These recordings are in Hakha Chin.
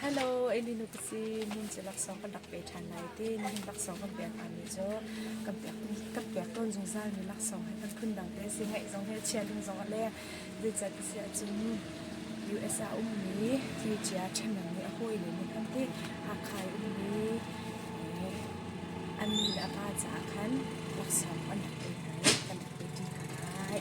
Hello, Elinu te si min cu laksawng kan rak pe ṭhan lai ti. Nihin laksawng kan pek hngami cu kan pek kan pek tawn zungzalmi laksawng he kan phundang te si ngeih zong he chia ding zong a leng. Zeicat a si ahcun US ah a ummi twicia ṭhahnem nih a hawile nih an ti Hakha i ummi an nu le a pa caah khan laksawng kan rak pe hna i kan rak pe ṭi hna lai.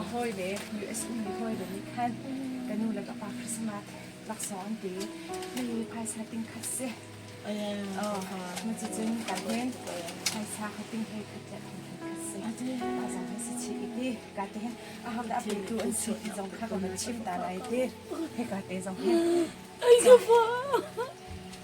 a hawile US mi hawile nih khan ka nu le ka pa Christmas laksawng an ti mi phaisa ting khat si cucun kan hin phaisa hating he khat le khat khat si a zang he si chi iti ka te a hang da petu an si ti zong kha ka man chim ta lai ti he ka te zong hi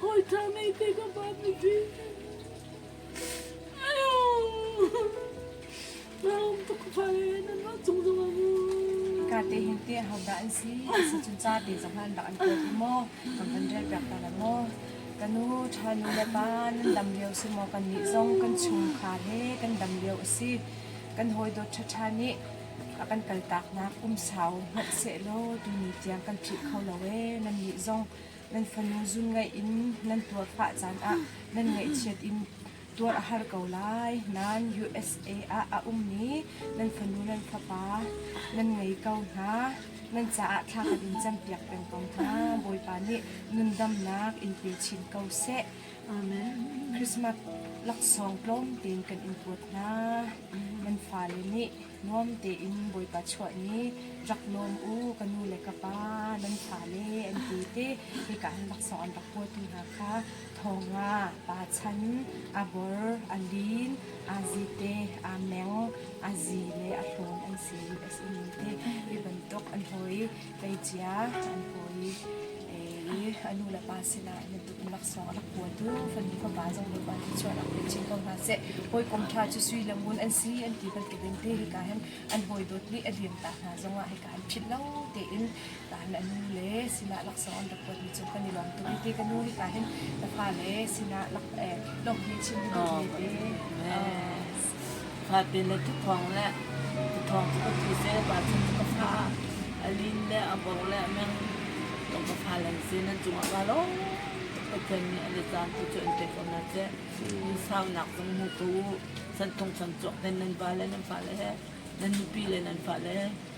Hawiṭha ngeite ka pa mipi Na um tuk fa le nan va chung zong a mu Ka te hin te hodah an si Asi cun ca te zong an rak an kuat i maw Kan han rel piak ta la maw Kanu ṭha nu le pa nan dam lio si maw kan nih zong kan chungkhar he kan dam lio asi Kan hawidawt ṭhaṭha nih a kan kaltak nak um sau hmanh sehlaw tuni tiang kan phih kho lo ee nan nih zong nan fanu zun ngaih in nan tuar pah caan ah nan ngaihchiat in tuar a har ko lai. Nan USA ah a ummi nan fanu nan fapa nan ngei ko hna. Nan caah thla khat in campiak peng ko hna. Bawipa nih nundamnak in pe chin ko seh. Amen. Christmas laksawng tlawm tein kan in kuat hna. Nan fale nih Nuam tein Bawipa chuah ni rak lawm u ka nu le ka pa nan fale an ti ti hika an laksawng an rak huatu hna kha Thawnga, Pa Chan, a bor, a lin, a zite, a meng, a zi le a hlawm an si i a simi te hi bantuk an hawi Kei cia an pawi i a nu le pa sinah na duh laksawng rak kuatu fanu fapa zong nih pa nih chuah rak pe chin ko hna seh. Hawikom ṭha cu sui le ngun an si an ti bantukin te hika hin an hawi dawt nih a liam ta hna zongah hika an phit lo tein taan a nu le sinah laksawng an rak kuatmi cu kan i lawm tuk iti ka nu hika hin na fa le sinah lak eh lawmh hi chim duh ne te. Hlapi le tuthuang le tuthuang cu ka ti se pa cun cu ka fa a lin le a bor le meng ka fa lan se na cungah ka lawm Pathian nih an i caan tu cu an pek ko na te in sau nak zong mu ko san thong san chuak ten nan va le nan fa le he nan nupi le nan fa le